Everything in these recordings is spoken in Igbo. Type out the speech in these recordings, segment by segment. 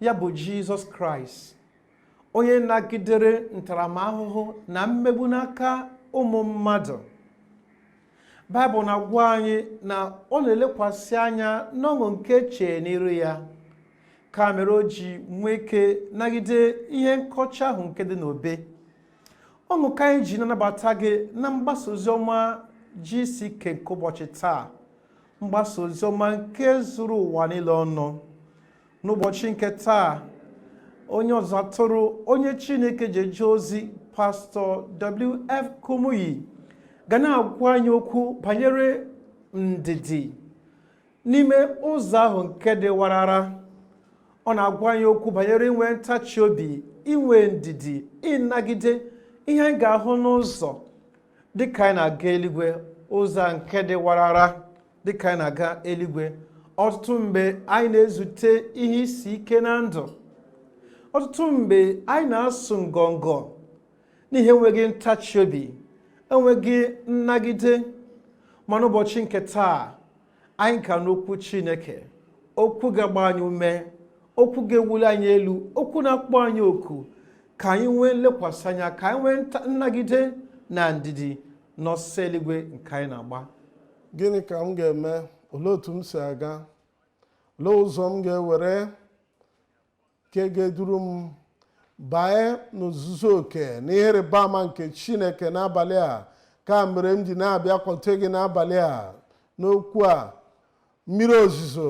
ya bụ jizọs kraịst onye nagidere ntaramahụhụ na mmegbu n'aka ụmụ mmadụ baịbụl na-agwa anyị na ọ na-elekwasị anya n'ọṅụ nke chee n'iru ya ka mere o ji nwee ike nagide ihe nkọcha ahụ nke dị n'obe ọṅụ ka anyị ji na-anabata gị na mgbasa ozi ọma GCK nke ụbọchị taa mgbasa ozi ọma nke zuru ụwa niile ọnụ n'ụbọchị nke taa onye ọzụzụ atụrụ onye chineke ji eje ozi pastọ wf kumuyi ga na-agwa anyị okwu banyere ndidi n'ime ụzọ ahụ nke dị warara ọ na-agwa anyị okwu banyere inwe ntachi obi inwe ndidi ịnagide ihe anyị ga-ahụ n'ụzọ dịka anyị na-aga eluigwe ụzọ nke dị warara dịka anyị na-aga eluigwe ọtụtụ mgbe anyị na-ezute ihe isi ike na ndụ ọtụtụ mgbe anyị na-asụ ngọngọ n'ihi enweghị ntachi obi enweghị nnagide ma n'ụbọchị nke taa anyị ga-anụ okwu chineke okwu ga-agba anyị ume okwu ga-ewuli anyị elu okwu na-akpọ anyị oku ka anyị nwee nlekwasị anya ka anyị nwee nnagide na ndidi n'ọsọ eluigwe nke anyị na-agba gịnị ka m ga-eme olee otu m si aga olee ụzọ m ga-ewere nke ga-eduru m banye n'ozuzu oke na ihe ịrịba ama nke chineke n'abalị a ka mere m ji na-abịakwute gị n'abalị a n'okwu a mmiri ozuzo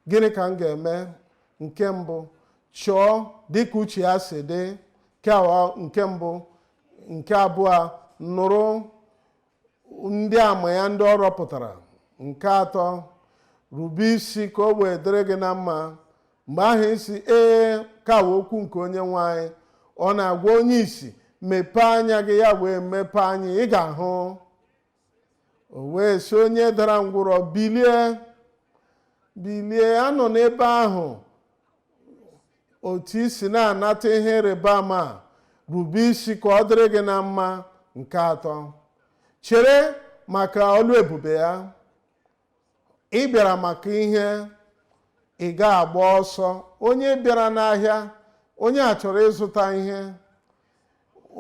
Gịnị ka m ga-eme? Nke mbụ, chọọ dịka uche ya si dị. Nke mbụ, nke abụọ, nụrụ ndị ama ya ndị ọ rọpụtara. Nke atọ, rube isi ka o wee dịrị gị na mma. Mgbe ahụ ị sị ee ka wụ okwu nke onye nwe anyị. Ọ na-agwa onye isi, mepee anya gị ya wee mepee anya, ị ga-ahụ. o wee sị onye dara ngwụrọ bilie bilie anọ n'ebe ahụ otu i si na-anata ihe ịrịba ama, rube isi ka ọ dịrị gị na mma nke atọ chere maka ọlụ ebube ya ị bịara maka ihe ị ga-agba ọsọ onye bịara n'ahịa onye a chọrọ ịzụta ihe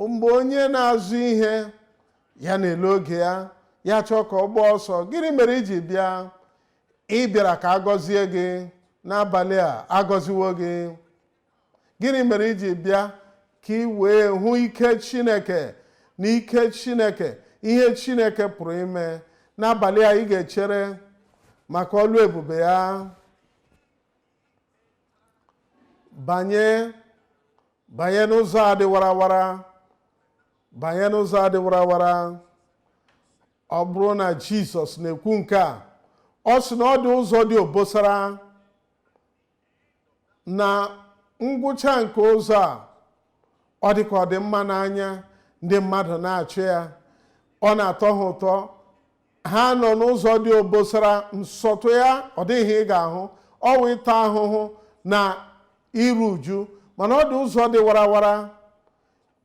mgbe onye na-azụ ihe ya na-ele oge ya ya chọọ ka ọ gbaa ọsọ gịnị mere i ji bịa ị bịara ka a gọzie gị n'abalị a a gọziwo gị gịnị mere i ji bịa ka ị wee hụ ike chineke na ike chineke ihe chineke pụrụ ime n'abalị a ị ga-echere maka ọlụ ebube ya banye banye n'ụzọ a dị warawara banye n'ụzọ a dị warawara ọ bụrụ na jizọs na-ekwu nke a ọ sị na ọ dị ụzọ dị obosara na ngwụcha nke ụzọ a ọ dị ka ọ dị mma n'anya ndị mmadụ na-achụ ya ọ na-atọ ha ụtọ ha nọ n'ụzọ dị obosara nsọtụ ya ọ dị ihe ị ga-ahụ ọ wụ ịta ahụhụ na iru uju mana ọ dị ụzọ dị warawara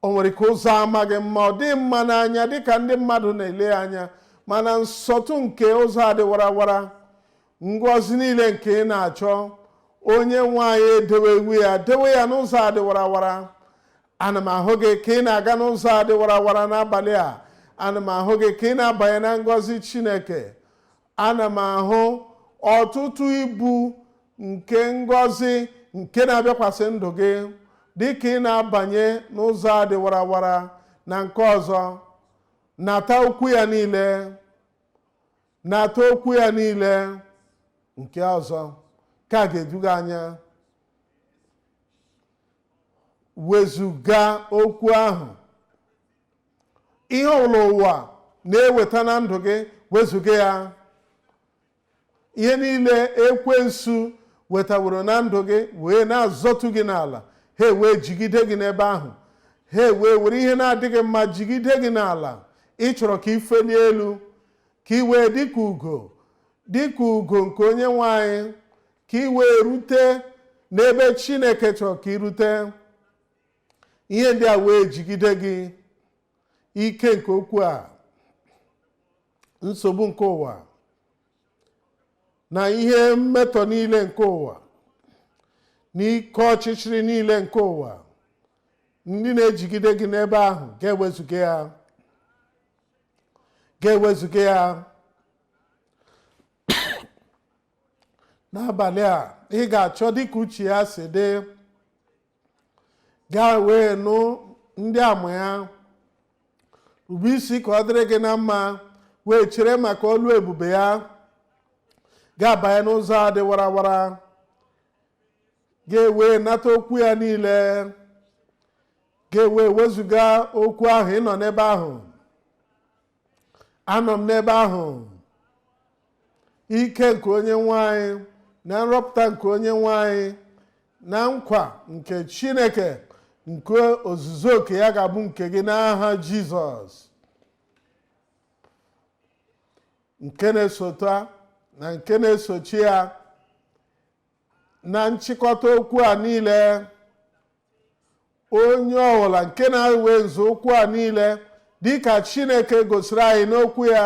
o nwere ike ụzọ amaghị mma ọ dị mma n'anya dịka ndị mmadụ na-ele anya mana nsọtụ nke ụzọ a dị warawara ngọzi niile nke ị na-achọ onye nwe anyị edewewo ya dewe ya n'ụzọ a dị warawara ana m ahụ gị ka ị na-aga n'ụzọ a dị warawara n'abalị a ana m ahụ gị ka ị na-abanye na ngọzi chineke ana m ahụ ọtụtụ ibu nke ngọzi nke na-abịakwasị ndụ gị dị ka ị na-abanye n'ụzọ a dị warawara na nke ọzọ nata okwu ya niile nata okwu ya niile nke ọzọ ka a ga-eduga anya wezuga okwu ahụ ihe ọbụla ụwa na-eweta na ndụ gị wezuga ya ihe niile ekwensu wetaworo na ndụ gị wee na-azọtu gị n'ala ha wee jigide gị n'ebe ahụ ha wee were ihe na-adịghị mma jigide gị n'ala ị chọrọ ka i fee n'elu ka ị wee dịka ugo dịka ugo nke onye nwe anyị ka ị wee rute n'ebe chineke chọrọ ka i rute ihe ndị a wee jigide gị ike nke okwu a nsogbu nke ụwa na ihe mmetọ niile nke ụwa na ike ọchịchịrị niile nke ụwa ndị na-ejigide gị n'ebe ahụ ga-ewezuga ya ga-ewezuga ya n'abalị a ị ga-achọ dịka uche ya si dị gaa wee nụ ndị ama ya rube isi ka ọ dịrị gị na mma wee chere maka ọlụ ebube ya ga-abanye n'ụzọ a dị warawara gị ewee nata okwu ya niile gị ewee wezuga okwu ahụ ị nọ n'ebe ahụ anọ m n'ebe ahụ ike nke onyenwe anyị na nrọpụta nke onyenwe anyị na nkwa nke chineke nke ozuzu oke ya ga-abụ nke gị n'aha jizọs nke na-esota na nke na-esochi ya na nchịkọta okwu a niile onye ọbụla nke na-ewe nzọụkwụ a niile dịka chineke gosiri anyị n'okwu ya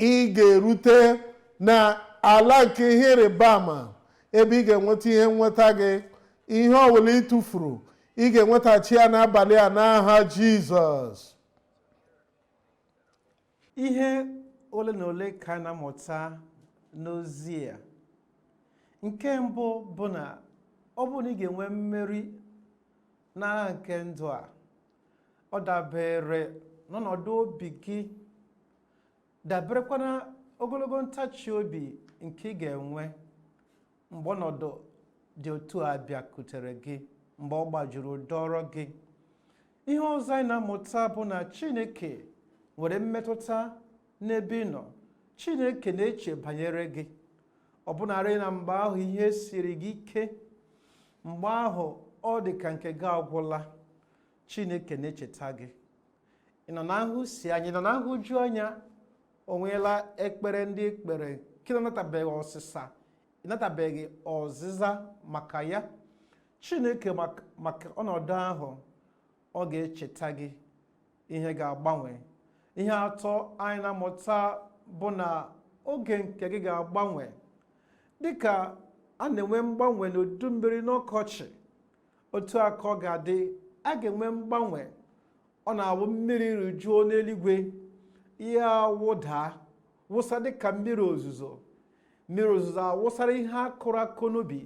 ị ga-erute na ala nke ihe ịrịba ama ebe ị ga-enweta ihe nnweta gị ihe ọbụla ị tụfuru ị ga-enwetachi ya n'abalị a n'aha jizọs ihe ole na ole ka a na-amụta n'ozi a nke mbụ bụ na ọ bụrụ na ị ga-enwe mmeri n'agha nke ndụ a ọ dabere n'ọnọdụ obi gị daberekwa na ogologo ntachi obi nke ị ga-enwe mgbe ọnọdụ dị otu a bịakutere gị mgbe ọ gbajuru dọrọ gị ihe ọzọ anyị na-amụta bụ na chineke nwere mmetụta n'ebe ị nọ chineke na-eche banyere gị ọbụnarị na mgbe ahụ ihe siri gị ike mgbe ahụ ọ dị ka nke gị agwụla chineke na-echeta gị ị nọ na-ahụsi anya ị nọ na-ahụju anya o nweela ekpere ndị i kpere nke ị na-anatabeghị ọsịsa ị natabeghị ọzịza maka ya chineke maka ọnọdụ ahụ ọ ga-echeta gị ihe ga-agbanwe ihe atọ anyị na-amụta bụ na oge nke gị ga-agbanwe dịka a na-enwe mgbanwe n'udu mmiri n'ọkọchị otu a ka ọ ga-adị a ga-enwe mgbanwe ọ na-awụ mmiri rijuo n'eluigwe ihe awụda wụsa dịka mmiri ozuzo mmiri ozuzo awụsara ihe a kụrụ akụ n'ubi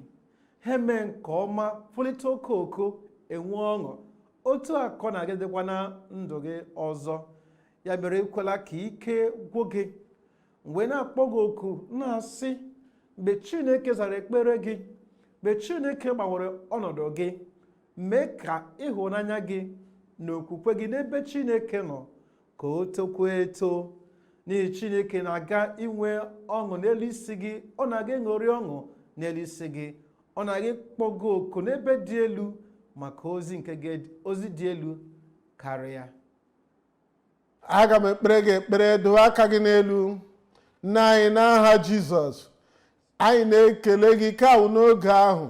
ha mee nke ọma pulite okooko enwe ọṅụ otu a ka ọ na-aga ịdịkwa na ndụ gị ọzọ ya mere ekwela ka ike gwụ gị m wee na-akpọ gị oku na-asị mgbe chineke zara ekpere gị mgbe chineke gbanwere ọnọdụ gị mee ka ịhụnanya gị na okwukwe gị n'ebe chineke nọ ka o tokwuo eto n'ihi chineke na-aga inwe ọṅụ n'elu isi gị ọ na-aga ịṅụrị ọṅụ n'elu isi gị ọ na-aga ịkpọ gị oku n'ebe dị elu maka ozi nke gị- ozi dị elu karịa aga m ekpere gị ekpere doo aka gị n'elu nna anyị n'aha jizọs anyị na-ekele gị nke a wụ n'oge ahụ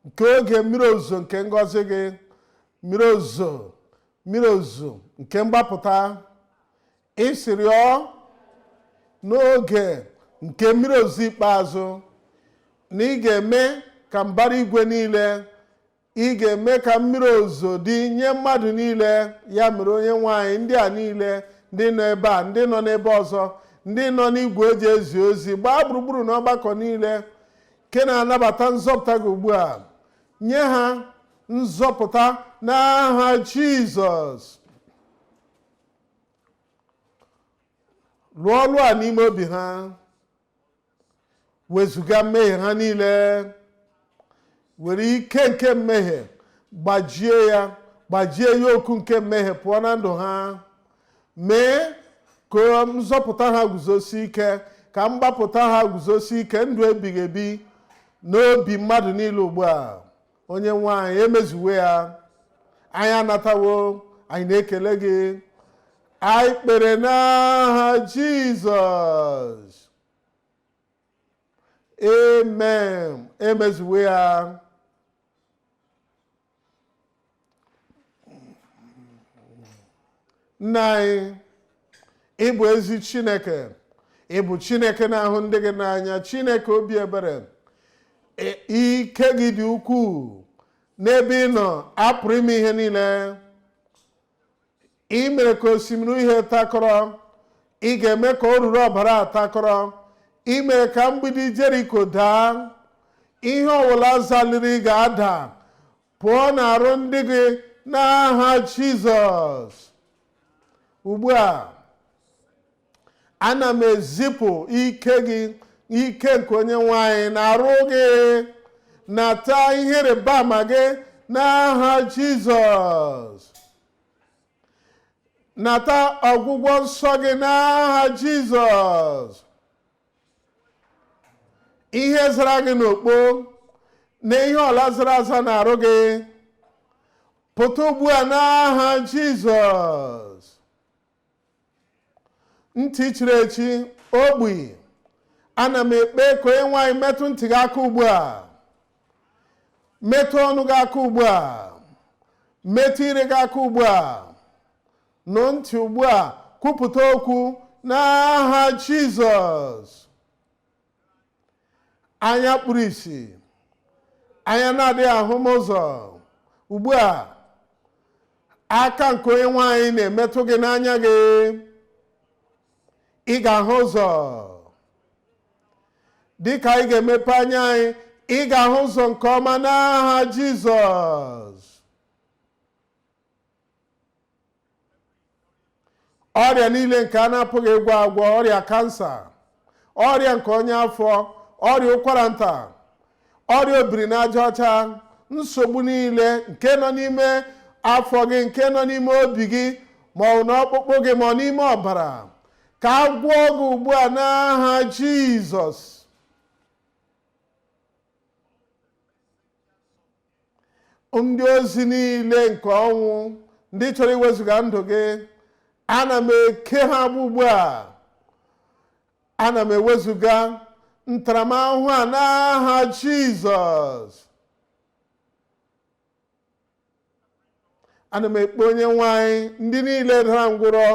nke oge mmiri ozuzo nke ngọzi gị mmiri ozuzo mmiri ozuzo nke mgbapụta ị sịrị ọ n'oge nke mmiri ozuzo ikpeazụ na ị ga-eme ka mbara igwe niile ị ga-eme ka mmiri ozuzo dị nye mmadụ niile ya mere onye nwe anyị ndị a niile ndị nọ ebe a ndị nọ n'ebe ọzọ ndị nọ n'igwe e ji ezi ozi gbaa gburugburu n'ọgbakọ niile nke na-anabata nzọpụta gị ugbu a nye ha nzọpụta n'aha jizọs lụọ ọlụ a n'ime obi ha wezuga mmehie ha niile were ike nke mmehie gbajie ya gbajie yoke nke mmehie pụọ na ndụ ha mee ka nzọpụta ha guzosi ike ka mgbapụta ha guzosi ike ndụ ebighị ebi n'obi mmadụ niile ugbu a onye nwe anyị emezuwo ya anyị anatawo anyị na-ekele gị anyị kpere n'aha jizọs amen emezuwo ya nna anyị ị bụ ezi chineke ị bụ chineke na-ahụ ndị gị n'anya chineke obi ebere ike gị dị ukwuu n'ebe ị nọ a pụrụ ime ihe niile ị mere ka osimiri uhie takọrọ ị ga-eme ka oruru ọbara a takọrọ ị mere ka mgbidi jeriko daa ihe ọbụla zaliri ga-ada pụọ n'arụ ndị gị n'aha jizọs ugbu a ana m ezipụ ike gị ike nke onye nwe anyị n'arụ gị nata ihe ịrịba ama gị n'aha jizọs nata ọgwụgwọ nsọ gị n'aha jizọs ihe zara gị n'okpo na ihe ọbụla zara aza n'arụ gị pụta ugbu a n'aha jizọs ntị chiri echi ogbi ana m ekpe ka onye nwe anyị metụ ntị gị aka ugbu a metụ ọnụ gị aka ugbu a metụ ire gị aka ugbu a nụ ntị ugbu a kwupụta okwu n'aha jizọs anya kpuru isi anya na-adịghị ahụ m ụzọ ugbu a aka nke onye nwe anyị na-emetụ gị n'anya gị ị ga-ahụ ụzọ dịka anyị ga-emepe anya anyị ị ga-ahụ ụzọ nke ọma n'aha Jizọs ọrịa niile nke a na-apụghị ịgwọ agwọ ọrịa kansa ọrịa nke ọnya afọ ọrịa ụkwara nta ọrịa obiri n'aja ọcha nsogbu niile nke nọ n'ime afọ gị nke nọ n'ime obi gị ma ọ bụ n'ọkpụkpụ gị ma ọ n'ime ọbara ka a gwọọ gị ugbu a n'aha jizọs ndị ozi niile nke ọnwụ ndị chọrọ iwezuga ndụ gị ana m eke ha agbụ ugbu a ana m ewezuga ntaramahụhụ a n'aha jizọs ana m ekpe onye nwe anyị ndị niile dara ngwụrọ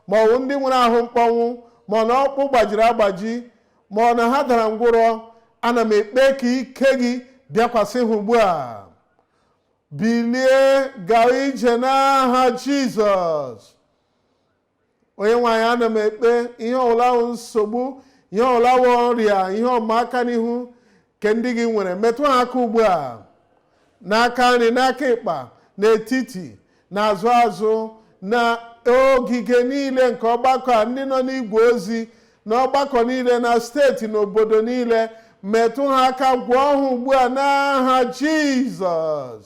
ma ọ bụ ndị nwere ahụ mkpọnwụ ma ọ na ọkpụ gbajiri agbaji ma ọ na ha dara ngwụrọ ana m ekpe ka ike gị bịakwasị ha ugbu a bilie gaa ije n'aha jizọs onye nwe anyị ana m ekpe ihe ọbụla wụ nsogbu ihe ọbụla wụ ọrịa ihe ịma aka n'ihu nke ndị gị nwere metụ ha aka ugbu a n'aka nri n'aka ịkpa n'etiti n'azụ azụ na ogige niile nke ọgbakọ a ndị nọ n'igwe ozi na ọgbakọ niile na steeti na obodo niile metụ ha aka gwọọ ha ugbu a n'aha jizọs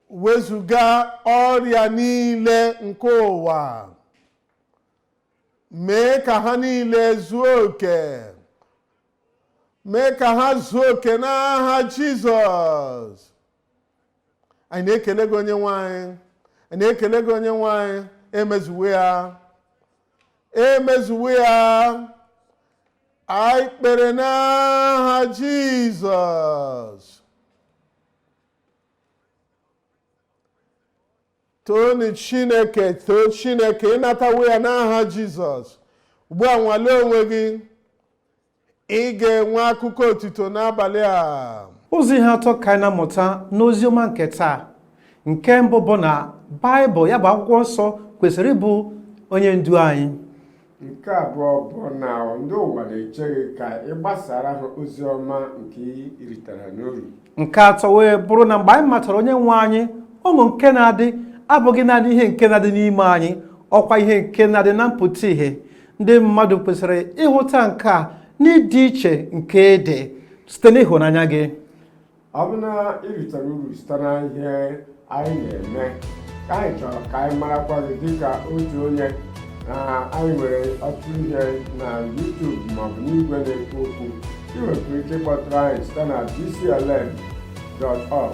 wezuga ọrịa niile nke ụwa mee ka ha niile zuo oke mee ka ha zuo oke n'aha jizọs anyị na-ekele gị onye nwe anyị anyị na-ekele gị onye nwe anyị emezuwo ya emezuwo ya anyị kpere n'aha jizọs toonu chineke too chineke ị natawo ya n'aha jizọs ugbu a nwalee onwe gị ị ga-enwe akụkọ otito n'abalị a ụzọ ihe atọ ka anyị na-amụta n'ozi ọma nke taa nke mbụ bụ na baịbụl ya bụ akwụkwọ nsọ kwesịrị ịbụ onye ndu anyị nke abụọ bụ na ndị ụwa na-eche gị ka ị gbasara ha ozi ọma nke ị ritara n'uru nke atọ wee bụrụ na mgbe anyị matara onye nwe anyị ọṅụ nke na-adị abụghị naanị ihe nke na-adị n'ime anyị ọkwa ihe nke na-adị na mpụta ihe ndị mmadụ kwesịrị ịhụta nke a n'ịdị iche nke ị dị site n'ịhụnanya gị ọ bụ na ị ritere uru site na ihe anyị na-eme ka anyị chọrọ ka anyị marakwa gị dịka otu onye na anyị nwere ọtụtụ ihe na YouTube maọbụ n'igwe na-ekwu okwu ị nwekwara ike ịkpọtụrụ anyị site na dclm.org